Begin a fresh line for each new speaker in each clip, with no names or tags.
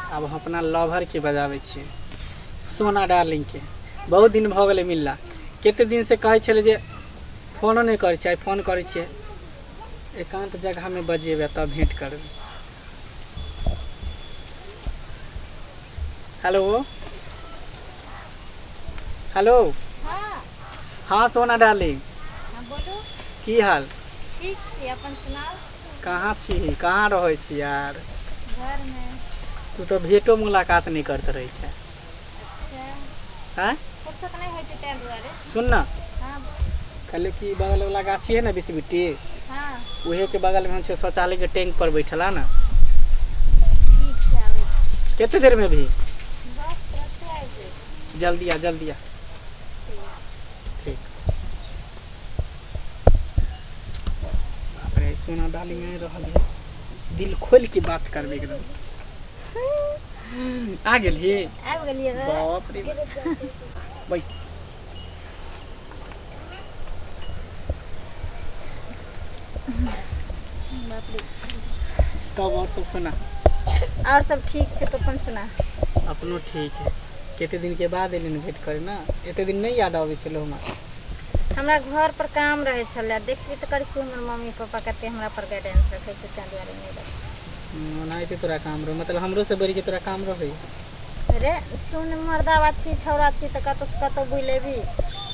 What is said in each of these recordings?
अब हम अपना लवर के बजाबै छियै सोना डार्लिंग के बहुत दिन भऽ गेलै मिलला कते दिन से कहै छलै जे फोनो नहि करै छियै आइ फोन करै छियै एकांत जगह में बजेबै तब भेंट करबै हेलो हेलो हाँ
हाँ सोना
डार्लिंग हाँ बोलू
की हाल
ठीक छी
अपन सुनाउ कहाँ छी
कहाँ रहै छी यार
घरमे तू तो भेटो
मुलाकात नहीं करते रहे छै आँय
फुर्सत नहि होइ छै
ताहि
दुआरे सुन ना हँ कहले कि
बगल वाला गाछी है ना बीस बिट्टी हँ
उहे के बगल में
हम छे शौचालय के टैंक पर बैठल है ना ठीक छै आबै
छी। कितने देर में भी बस
तुरते आबि जाइ
छी। जल्दी आ जल्दी आ ठीक
बाप रे सोना डाली में रहल है दिल खोल के बात करबे एकदम आ गेली आबि गेलियै बे। बाप
रे
बाप। बैस
बाप रे। तब
और सब सुना और सब
ठीक छै तो अपन सुना अपनो ठीक
है कते दिन के बाद एलिन भेंट करे ना एते दिन नहीं याद आवे छलो हमरा हमरा
घर पर काम रहै छलै देखबी तऽ करै छी हमर मम्मी पापा कते हमरा पर गाइडेंस रखै छै ताहि दुआरे नहि रखै ओनाहिते तोरा काम
रहौ मतलब हमरो से बढ़ि के तोरा काम रहै रे
तू ने मर्दावा छी छौड़ा छी तऽ कतौ से कतौ बुलि लेबही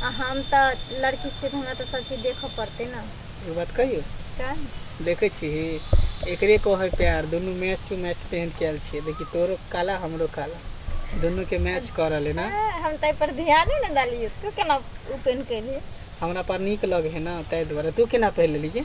आ हम तऽ लड़की छी तऽ हमरा तऽ सब चीज देखऽ पड़तै ने एगो बात कहियो
का
देखै छिही
एकरे कहै प्यार दुनू मैच टू मैच पेहन के आयल छियै देखी तोरो काला हमरो काला दुनू के मैच कऽ रहले ना ए, हम तऽ पर ध्याने
ने देलियै तू केना ओपन केलही हमरा पर नीक
लगे है ना ताहि दुआरे तू केना पहिर लेली गे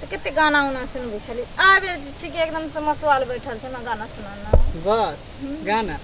तऽ कते गाना उना सुनबै छली आब जे छै कि एकदम से मसुआल बैठल छै ना गाना सुनाना बस
गाना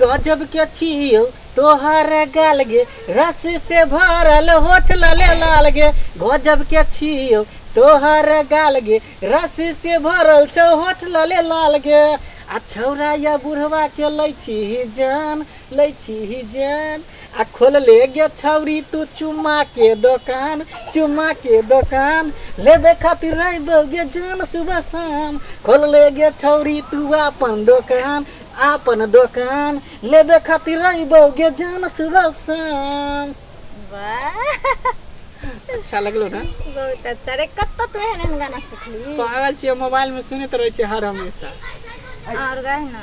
गजब के छियो तोहर गाल गे रस से भरल होठ लाले लाल गे गजब के छियो तोहर गाल गे रस से भरल छौ होठ लाले लाल गे आ छौरा या बुढ़वा के लै छी जान लै छी जान आ खोलले गे छौरी तू चुम्मा के दोकान चुम्मा के दोकान लेबे खातिर रहबो गे जान सुबह शाम खोलले गे छौरी तू अपन दोकान अपन दोकान लेबे खातिर रहबो गे जान सुबह शाम वाह
अच्छा
लगलो ना बहुत अच्छा रे
कत्तो तू एहन एहन गाना सिखली पागल छियै मोबाइल
में सुनैत रहै छै हर हमेशा और गाय
ना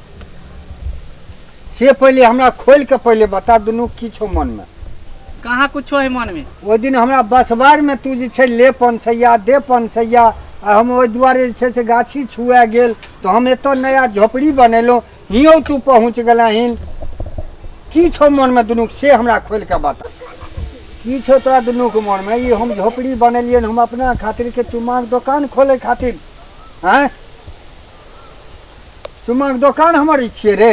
से पहिले हमरा खोलि कऽ पहिले बता दुनू की छौ मनमे कहाँ कुछो
है मन में ओहि दिन हमरा
बसबारमे तू जे छै ले पनसैया दे पनसैया आ हम ओहि दुआरे जे छै से गाछी छुआ गेल तऽ हम एतऽ नया झोपड़ी बनेलहुँ हियो तू पहुँच गेलहिन की छौ मनमे दुनू से हमरा खोलि कऽ बता की छौ तोरा दुनूके मनमे ई हम झोपड़ी बनेलियै हन, हम अपना खातिर के चुमाक दोकान खोले खातिर आँय चुमाके दोकान हमर ई छियै रे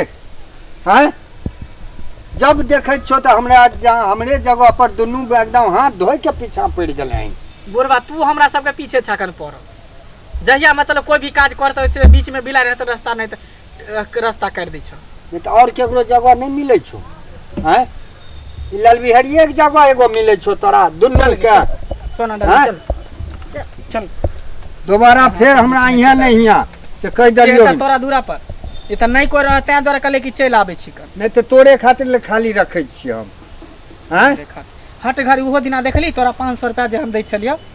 आँय जब देखै छियौ तऽ हमरा हमरे जगह पर दुनू एकदम हाथ धोय के पीछा पड़ि गेलै बुढ़बा तू हमरा
सबके पीछे छकन पड़ जहिया मतलब कोई भी काज करते छै बीच में बिला रहते रास्ता नहीं तो रास्ता काट दै छौ नहीं तो और केकरो
जगह नहीं मिले छौ हैं ई ललबिहरिये के जगह एगो मिले छो तोरा दुनू चल के सोना हाँ?
डाल
चल
चल दोबारा
फेर हमरा यहाँ नहीं हिया से कह चल दलियो तऽ तोरा दूरा पर
ई तऽ नहि कोइ रह तें द्वारा कहले कि चलि आबै छी कन नहीं तो तोरे खातिर
ले खाली रखे छी हम हैं देखा हट घर
ओहो दिना देखली तोरा पाँच सौ रुपया जे हम दै छलियौ